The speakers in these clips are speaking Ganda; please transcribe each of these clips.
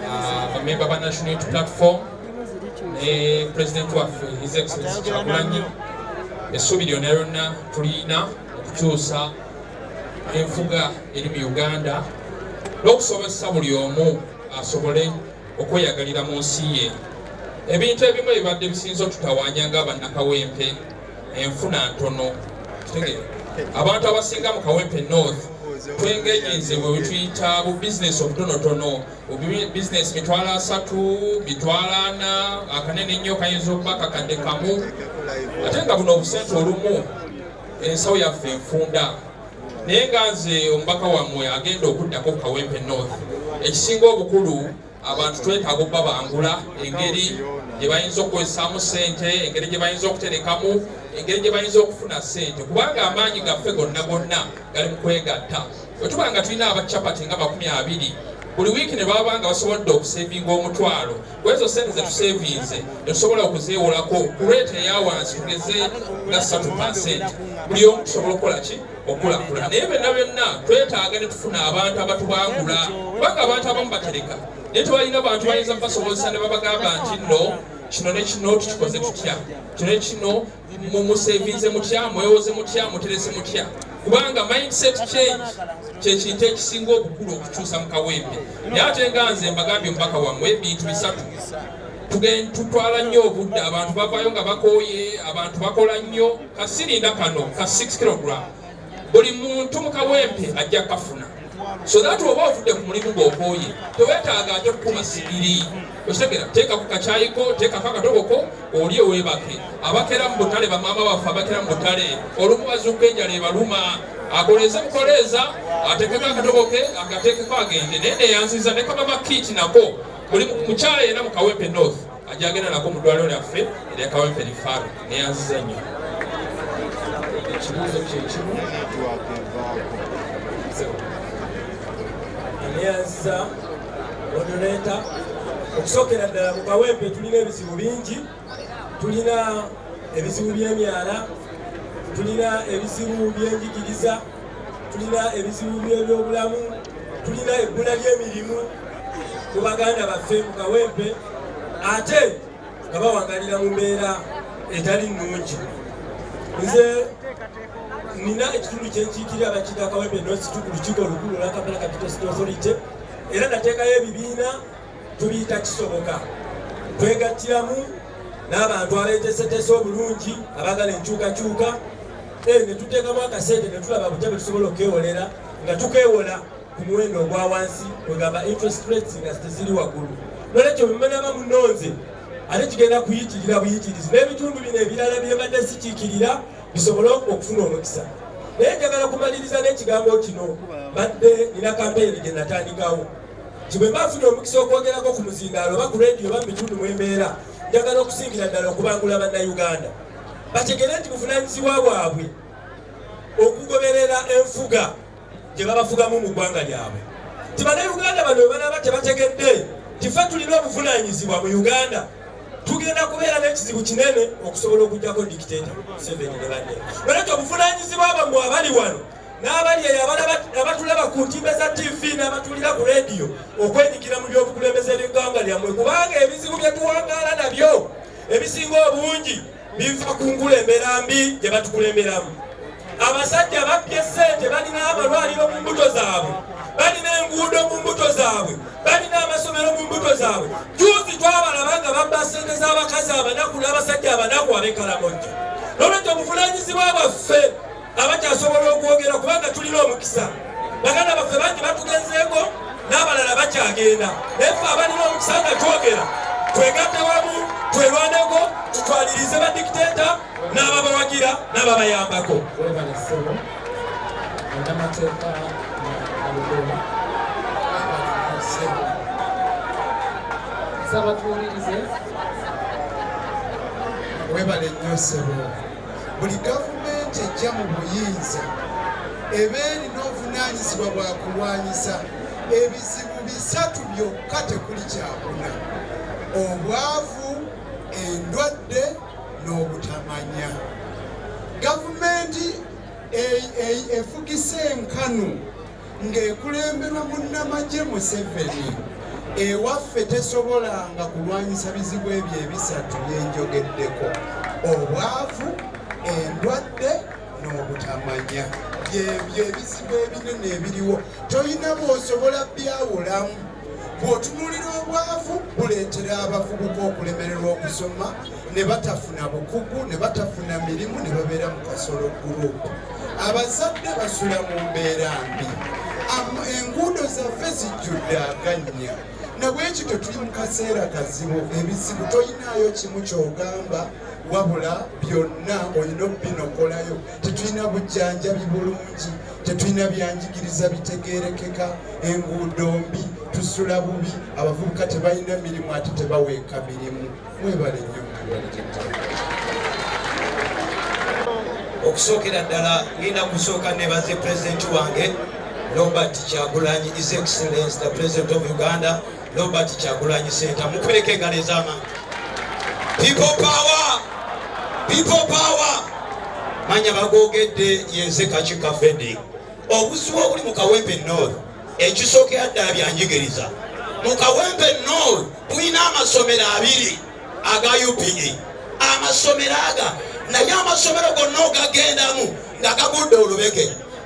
ah, bamemba ba national platform ne president waffe his excellence kyagulanyi essuubi lyona lyonna tulina okukyusa enfuga eri mu uganda n'okusobozesa buli omu asobole okweyagalira mu nsi ye ebintu ebimu ebibadde bisinza otutawanya nga bannakawempe enfuna ntono abantu abasinga mu kawempe north twengenyi nze bwetuyita bu business obutonotono business mitwalo asatu mitwalo ana akanene nnyo kayinza okuba kakadde kamu ate nga buno obusente olumu ensawo yaffe enfunda naye nga nze omubaka wammwe agenda okuddako ku kawempe north ekisinga obukulu abantu twetaaga okubabangula engeri gye bayinza okukozesaamu ssente engeri gye bayinza okuterekamu engeri gye bayinza okufuna ssente kubanga amaanyi gaffe gonna gonna gali mu kwegatta bwe tuba nga tulina abacapati nga makumi abiri buli wiiki ne baba nga basobodde okusevinga omutwalo kwezo sente zetusevinze netusobola okuzeewolako ku lwete eya wansi tugeze nga ssatu pasenti buli omu tusobola okukola ki okulakula naye byonna byonna twetaaga ne tufuna abantu abatubangula kubanga abantu abamu batereka naye tebalina bantu bayinza basobozesa ne babagamba nti no kino ne kino tukikoze tutya kino ne kino mumusevinze mutya mwewoze mutya muterese mutya kubanga mindset change kyekintu ekisinga obukulu okukyusa mu kawembe naye ate nga nze mbagambye omubaka wammwe ebintu bisatu tutwala nnyo obudde abantu bavayo nga bakooye abantu bakola nnyo kasirinda kano ka 6 kilogram buli muntu mu kawempe ajja kafuna so that oba otudde ku mulimu gw'okooye tewetaaga ate kukuma sigiri okitegera teeka ku kakyayiko teekako akatoboko oli owebake abakera mu butale bamaama baffe abakera mu butale olumu bazuuka enjala ebaluma akoleeze bukoleeza atekeko akatoboke agatekeko agende naye neyanziza ne kamama kiiti nako buli mukyala yena mu kawempe north ajja agenda nako mu ddwaliro lyaffe erya kawempe lifaru neyanziza nnyo ekibuuzo kyekimu neyanziza odoleeta okusookera ddala mu kawempe tulina ebizibu bingi tulina ebizibu by'emyala tulina ebizibu by'enjigiriza tulina ebizibu by'ebyobulamu tulina ebbula ly'emirimu mu baganda baffe mu kawempe ate nga bawagalira mu mbeera etali nnungi nze nina ekitundu kyenkiikirira abakiga kawempe nosituku lukiiko olukulu lwakampala capital city authority era nateekayo ebibiina tubiyita kisoboka twegattiramu n'abantu abeetesetese obulungi abagala enkyukakyuka eh, ne tuteekamu akasente ne tulaba butya bwe tusobola okwewolera nga tukewola ku muwendo ogwa wansi kwegamba interest rates nga teziri waggulu nolwekyo bwemanaba munonze ate kigenda kuyitirira buyitirizi n'ebitundu bino ebirala byebadde sikiikirira bisobole okufuna omukisa naye njagala kumaliriza n'ekigambo kino badde nina kampeyini gye natandikawo nti bwe mba nfuna omukisa okwogerako ku muzindaalo oba ku leediyo oba mu bitundu mu embeera njagala okusingira ddala okubangula bannayuganda bategere nti buvunaanyizibwa bwabwe okugoberera enfuga gye babafugamu mu ggwanga lyabwe nti bannayuganda bano webalaba tebategedde tife tulina obuvunaanyizibwa mu uganda tugenda kubeera n'ekizibu kinene okusobola okugyako dikiteta museveni ne banne olwekyo obuvunaanyizibwa bamwe abali wano n'abali eyo abatulaba ku ntimbe za tv n'abatulira ku rediyo okwenyigira mu by'obukulembeze by'eggwanga lyammwe kubanga ebizibu bye tuwangaala nabyo ebisinga obungi biva ku nkulembera mbi gye batukulemberamu abasajja babbye ssente balina amalwaliro mu mbuto zaabwe balina enguudo mu mbuto zaabwe balina amasomero mu mbuto zaabwe juuzi twabalaba nga babba ssente z'abakazi abanaku n'abasajja abanaku abekalamojja nolwekyo obuvunanyizibwa bwaffe abakyasobola okwogera kubanga tulina omukisa baganda baffe bangi batugenzeeko n'abalala bakyagenda naye fe abalina omukisa nga twogera twegatte wamu twerwaneko tutwalirize badikiteeta n'ababawagira n'ababayambako webale nnyo sebo buli gavumenti ejja mu buyinza eba erina obuvunaanyizibwa bwa kulwanyisa ebizibu bisatu byokka tekuli kyakuna obwavu endwadde n'obutamanya gavumenti efugisa enkanu ng'ekulemberwa munnamagye Museveni ewaffe tesobolanga kulwanyisa bizibu ebyo ebisatu byenjogeddeko obwavu endwadde n'obutamanya byebyo ebizibu ebinene ebiriwo tolina bwosobola byawulamu bw'otunulira obwavu buleetera abavubuka okulemererwa okusoma ne batafuna bukugu ne batafuna mirimu ne babeera mu kasolo gurupu abazadde basula mu mbeera mbi enguudo zaffe zijjudde agannya nabwekityo tuli mu kaseera kazibu ebizibu toyinaayo kimu kyogamba wabula byonna olina okubinokolayo tetulina bujjanjabi bulungi tetulina byanjigiriza bitegerekeka enguudo mbi tusula bubi abavubuka tebalina mirimu ate tebaweeka mirimu Mwebale nnyo mwebale okusookera ddala ngenda kusooka nebaze pulezidenti wange Robert Kyagulanyi His Excellency the President of Uganda Robert Kyagulanyi Senta mukweleka engalo ez'amaanyi people power people power manya bagogedde yenze kakika Fredrick obuzibu obuli mu kawempe north ekisookera ddala byanjigiriza mu kawempe north tulina amasomero abiri aga upe amasomero aga naye amasomero gonna ogagendamu nga gagudde olubege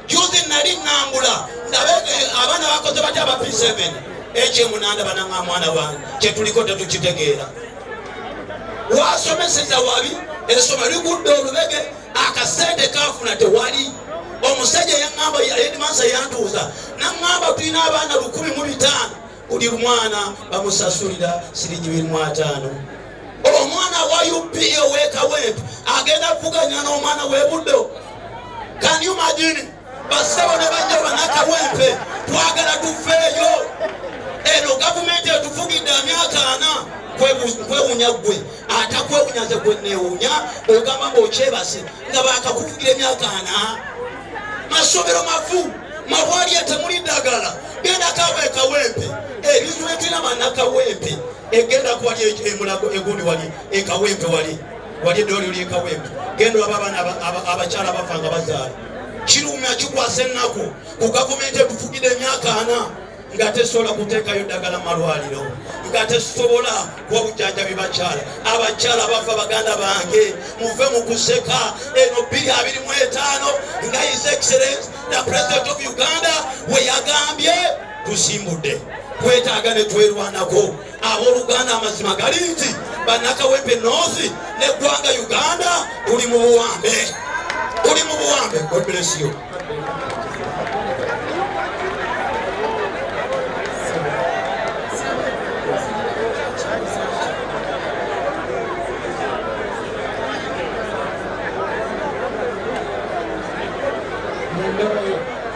juzi nali nambula ndabe eh, abaana bakoze bati aba p7 ekyemunanda bananga mwana wange kyetuliko tetukitegeera wasomeseza wabi esoma ligudde olubege akasente kafuna tewali omusajja yaamba edmansa yantuuza naŋamba tulina abaana lukumi mu bitaano buli mwana bamusasulira siringi birimu ataano omwana wa up owekawempe agenda kuvuganya n'omwana webuddo kani umagini basabo ne bajja banakawempe twagala tufeeyo eno gavumenti etufugidde amyaka ana kwewunya ggwe atakwewunya nze gwenewunya ogamba ngaokyebase nga bakakuvugira emyaka ana masomero mavu mabwalya temuli ddagala gendakawo ekawempe ebintu etulina banakawempe egenda kuwali emulago egundi wali ekawempe wali wali eddoli oli ekawempe genda olaba abaana abakyala abafa nga bazaala kirumya kikwasa ennaku ku gavumenti etufugidde emyaka ana nga tesobola kuteekayo ddagala malwaliro nga tesobola kuwa bujanjabi bakyala abakyala bafa baganda bange muve mu kuseka eno bbiri abiri mu etaano nga his excellence the president of uganda we yagambye tusimbudde kwetaaga ne twerwanako Abooluganda, amazima gali nti bannakawempe North n'eggwanga Uganda tuli mu buwambe, tuli mu buwambe. God bless you.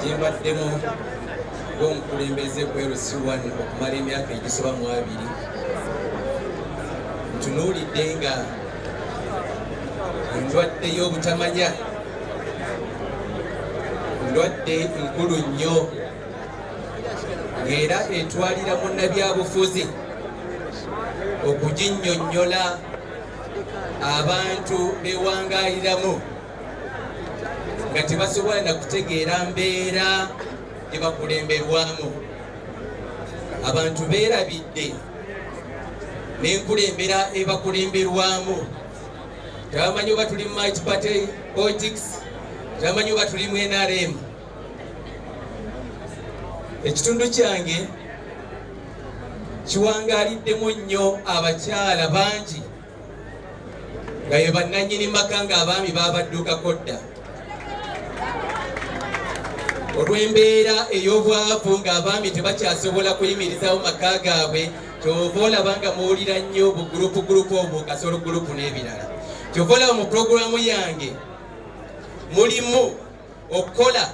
gyembaddemu ng'omukulembeze ku LC1 okumala emyaka egisoba mu abiri ntunuulidde nga endwadde y'obutamanya ndwadde nkulu nnyo ng'era etwalira munnabyabufuzi okuginnyonnyola abantu bewangaliramu nga tebasobola na kutegeera mbeera gye bakulemberwamu abantu beerabidde n'enkulembera ebakulemberwamu tebamanyi oba tuli mu might party politics tebamanyi oba tuli mu nrm ekitundu kyange kiwangaliddemu nnyo abakyala bangi nga ye bannannyini maka ng'abaami baabadduukako dda olw'embeera ey'obwavu ng'abaami tebakyasobola kuyimirizawo maka gaabwe kyova olaba nga muwulira nnyo bugulupu gulupu obwo kasolo gulupu n'ebirala kyova olaba mu pulogulaamu yange mulimu okukola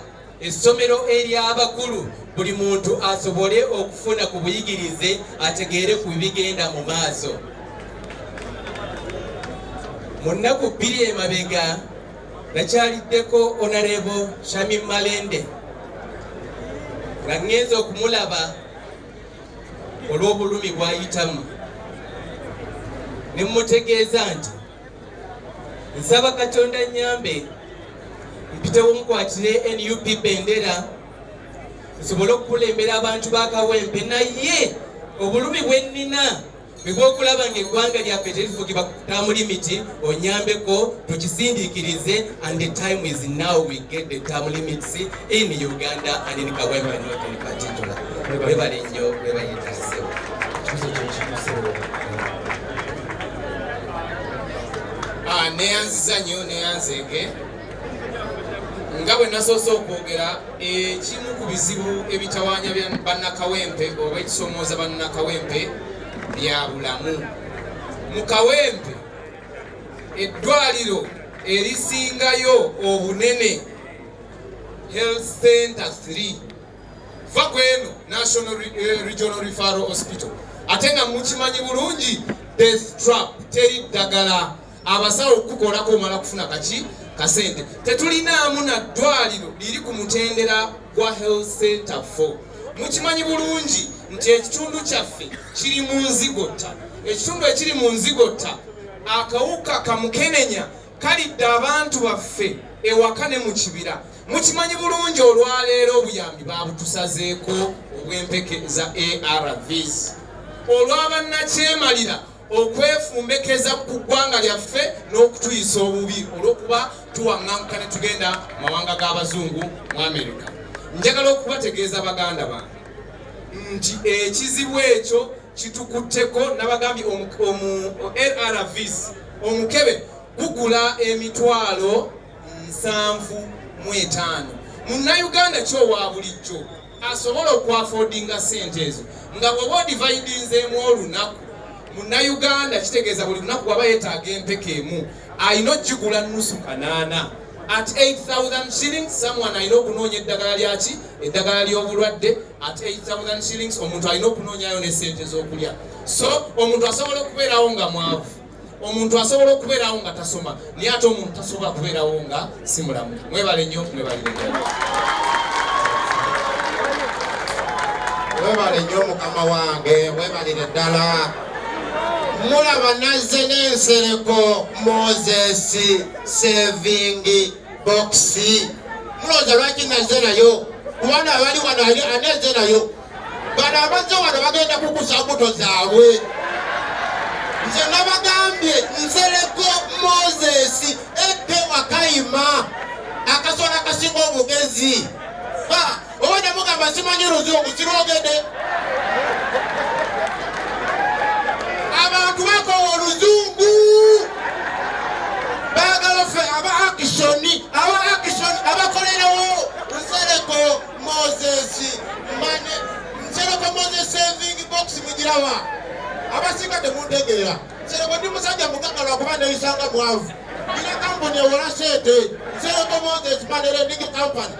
essomero ery'abakulu buli muntu asobole okufuna ku buyigirize ategeere ku bibigenda mu maaso mu nnaku bbiri emabega nakyaliddeko onarebo shami malende nga ŋŋenza okumulaba olw'obulumi bwayitamu ne mmutegeeza nti nsaba katonda nyambe mpitewo mukwatire nup bendera nsobole okukulembera abantu bakawempe naye obulumi bwennina bwebwokulaba nga eggwanga lyaffe terifugibwa kutamuli miti onyambeko tukisindikirize and the time is now we get the term limits in uganda and in kawempe not in particular webale nnyo webayitasewo Ah, neyanziza nyo neyanzege nga bwe nasoose okwogera ekimu ku bizibu ebitawanya bannakawempe oba ekisomooza bannakawempe bya bulamu mu kawempe eddwaliro erisingayo obunene health center 3 va ku eno National eh, Regional Referral Hospital ate nga mukimanyi bulungi death trap teri ddagala abasawo okukukolako omala kufuna kaki kasente tetulinaamu na ddwaliro liri ku mutendera gwa health center 4 mukimanyi bulungi nti ekitundu kyaffe kiri mu nzigotta ekitundu ekiri mu nzigotta akawuka kamukenenya Kalidde abantu baffe ewaka ne mu kibira mukimanyi bulungi olwaleero obuyambi babutusazeeko obw'empeke za ARVs olw'abannakyemalira okwefumbekeza ku ggwanga lyaffe n'okutuyisa obubi olw'okuba tuwaŋŋanguka ne tugenda mawanga g'abazungu mu Amerika. Njagala okubategeeza baganda bange nti ekizibu ekyo kitukutteko nabagambye omu rrvs omukebe gugula emitwalo nsanvu mu etaano munnayuganda kyowa bulijjo asobola okwafodinga sente ezo nga bwoba odivaidinzeemu olunaku munnayuganda kitegeeza buli lunaku waba yetaaga empeka emu alina okigula nusu kanaana at 8000 shilling someone alina okunoonya eddagala lyaki eddagala ly'obulwadde ate 8000 shillings omuntu alina okunoonyayo ne sente z'okulya so omuntu asobola okubeerawo nga mwavu omuntu asobola okubeerawo nga tasoma naye ate omuntu tasobola kubeerawo nga si mulamu mwebale nnyo mwebalire webale nnyo mukama wange webalire ddala mulaba nazze n'ensereko moses sevingi bokisi mulooza lwaki naze nayo kubana abali wano ali aneze nayo bano abazze wano bagenda kukusa mbuto zaabwe nze nabagambye nsereko moses eke wakayima akasola kasinga obugezi obadde mugamba simanyi luzungu sirwogedde abantu bakowa oluzungu bagala fe aba akisoni aba akisoni abakolerewo nsereko moses mane nsereko moses saving box mugirawa abasinga temuntegeera nsereko ndi musajja mugagga lwakuba neyisanga mwavu ina kampuni ewola sente nsereko moses manere ndigi kampani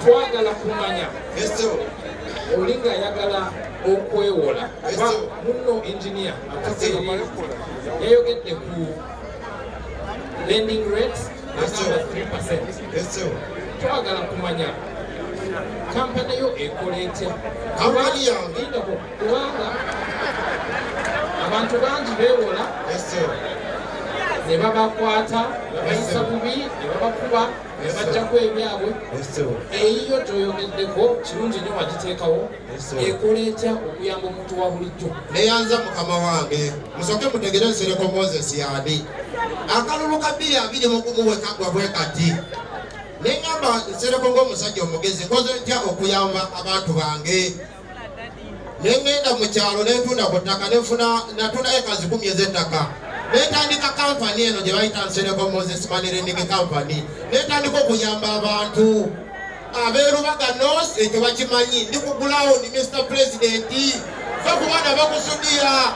twagala kumanya oli ng'ayagala okwewola oba munno engineer yayogedde ku lending rate agamba 3 twagala kumanya kampani yo ekola etya kampani yange kubanga abantu bangi beewola ne babakwata ne bayisa bubi ne babakuba bajjako ebyabwe eyiyo toyogeddeko kirungi nyo wagiteekawo ekola etya okuyamba omuntu wa bulijjo neyanza mukama wange musooke mutegere nsereko moses yani akalulu ka bbiri abiri mugumu wekagwa bwe kati neŋamba nsereko ng'omusajja omugezi nkoze ntya okuyamba abantu bange ne ŋŋenda mu kyalo ne ntunda ku ttaka ne nfuna natunda eka zikumi ez'ettaka ne ntandika kampani eno gye bayita Nsereko Moses Money Lending Company ne ntandika okuyamba abantu abeerubaga nos ekyo bakimanyi ndi ku gulawundi Mr Pulezidenti fe ku baana bakusudiya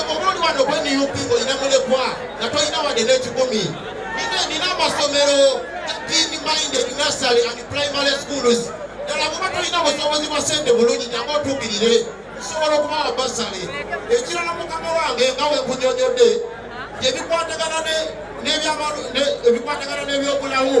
Obulungi wano gwe nup olina mulekwa nga tolina wadde n'ekikumi. Nina nina amasomero teen minded nursery and primary schools ddala kuba tolina busobozi bwa sente bulungi nyange otuukirire nsobola okubawa basale ekirala mukama wange nga wenkunyonyodde ebikwatagana n'ebyobulamu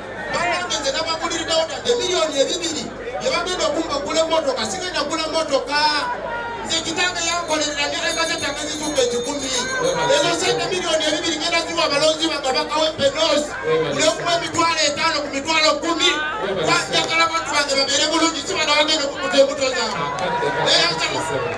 banange nze nabaguliriddewo tadde emiliyoni ebibiri yebagenda okumba ogula emotoka sigenda gula motoka nze kitange yankolerera ngeregaze tange zizumba ekikumi ezo sente miliyoni ebibiri ngenda ziwa abalonzi bange bakawa epenos nekuwa emitwalo etaano ku mitwalo kumi njagala abantu bange babeere bulungi sibana bagenda okukuta embuto zange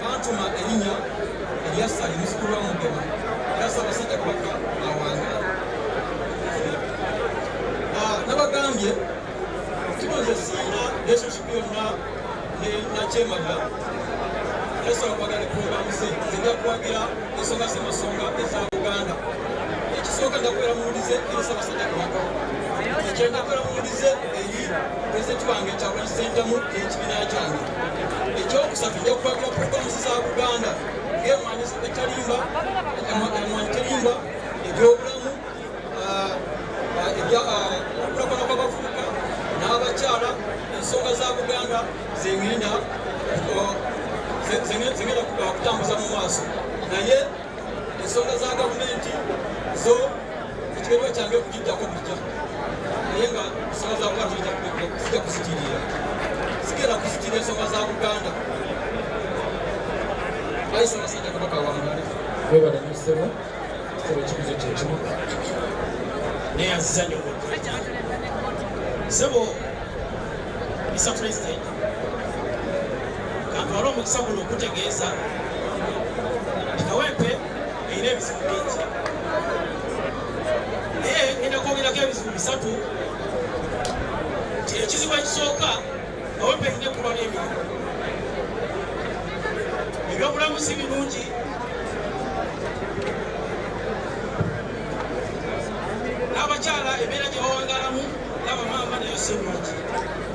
Baatuma erinnya erya Sali muzzukulu wa Mugema era Ssaabasajja Kabaka awangaala. Ah, nabagambye kino nze sirina relationship yonna ne nakyemaga era sobola kwagala ne pulogulaamu ze nzija kuwagira ensonga z'amasonga eza Buganda. Ekisooka nja kubeera muwulize eri Ssaabasajja Kabaka ekyenda kubeera muwulize eri pulezidenti wange Kyagulanyi Ssentamu n'ekibiina kyange. ekyokusatu nja kukwatira programu za buganda ng'emwanyi etalimba emwanyi terimba ebyobulamu ah, ah, okulakulana kw'abavubuka n'abakyala ensonga za buganda zengenda zengenda kutambuza mu maaso naye ensonga za gavumenti zo ekibeerwa kyange okugijjako bijja naye nga ensonga za buganda zijja kuzitirira zigenda kuzitirira ensonga za buganda ayisa abasajja kabaka wamale webale musebo sebo ekibuzo kyekimu naye azizanyo sebo mr president Kantwala omukisa guno okutegeeza nti Kawempe erina ebizibu bingi naye ngenda kwogerako ebizibu bisatu nti ekizibu ekisooka Kawempe erina ekkulwa n'emirimu ebyobulamu si birungi n'abakyala embeera gye bawangalamu n'abamaama nayo si birungi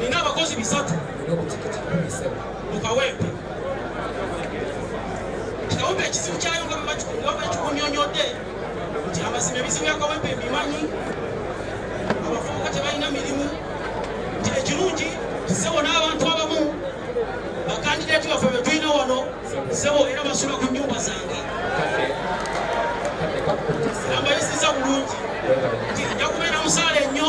nina abakozi bisatu mukawempe kikawempe ekizibu kyayo nga bwebakikunyonyodde nti amazima ebizibu yakawempe ebimanyi abavubuka tebalina mirimu nti ekirungi sebo n'abantu abamu bakandidati baffe betulina wano sebo era basula ku nyumba zange ambayisiza bulungi nti nja kubeera musaala ennyo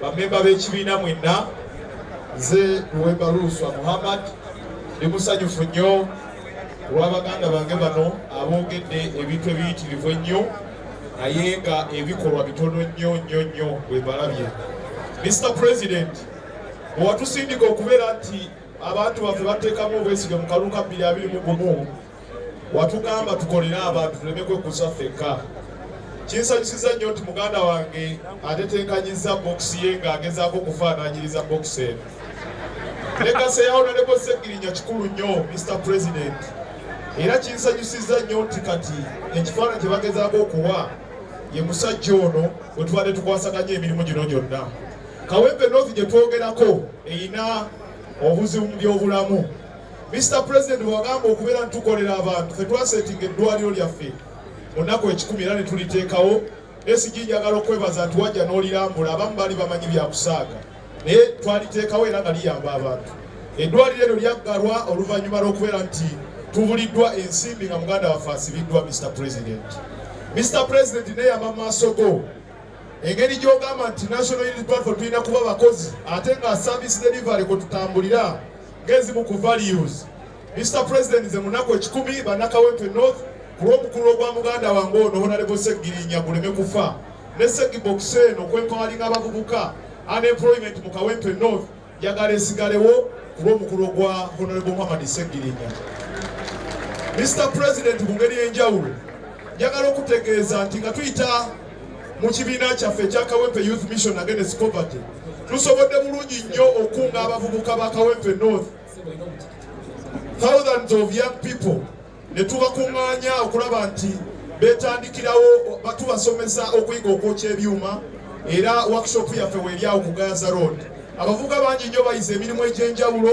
Bamemba b'ekibiina mwenna, nze Luwemba Luuswa Muhammad ndi musanyufu nnyo olwa baganda bange bano aboogedde ebintu ebiyitirivu ennyo naye nga ebikolwa bitono nnyo nnyo nnyo bwe balabye. Mr President, owatusindika okubeera nti abantu baffe bateekamu obwesige mu kalulu ka bbiri abiri mu gumu watugamba tukolere abantu tuleme kwekuza ffekka kinsanyusiza nnyo nti muganda wange atetenkanyizza bokisi ye ng'agezaako okufaananyiriza bokisi eno legasi eya honorable segirinya kikulu nnyo mr president era kinsanyusiza nnyo nti kati ekifaananyi kye bagezaako okuwa ye musajja ono bwe tubadde tukwasaganya emirimu gino gyonna kawempe north gye twogerako erina obuzibu mu byobulamu Mr President wagamba okubeera ntukolera abantu fetwasetinga eddwaliro lyaffe munaku ekikumi era netuliteekawo esigi njagala okwebaza nti wajja n'olirambula abamu baali bamanyi byakusaaga naye twaliteekawo era nga liyamba abantu eddwaliro eryo lyaggalwa oluvannyuma lw'okubeera nti tubuliddwa ensimbi nga muganda waffe asibiddwa Mr President Mr President neyama mu maaso go engeri gyogamba nti national unity platform tulina kuba bakozi ate nga service delivery kwe tutambulira ng'ezimu ku values Mr President nze munaku ekikumi banakawempe north ku lw'omukulu ogwa muganda wange ono honalebo seggirinya guleme kufa ne seggibokisi eno okwempawalinga abavubuka unemployment mu kawempe north njagala esigalewo ku lw'omukulu ogwa honalebo muhammad seggirinya Mr President mu ngeri enjawulo njagala okutegeeza nti nga tuyita mu kibiina kyaffe ekya kawempe youth mission against poverty tusobodde bulungi nnyo okukunga abavubuka ba kawempe north thousands of young people ne tubakuŋŋaanya okulaba nti betandikirawo batubasomesa okuyiga okwokya ebyuma era workshop yaffe weeryawo ku gaza road abavubuka bangi nnyo bayize emirimu egy'enjawulo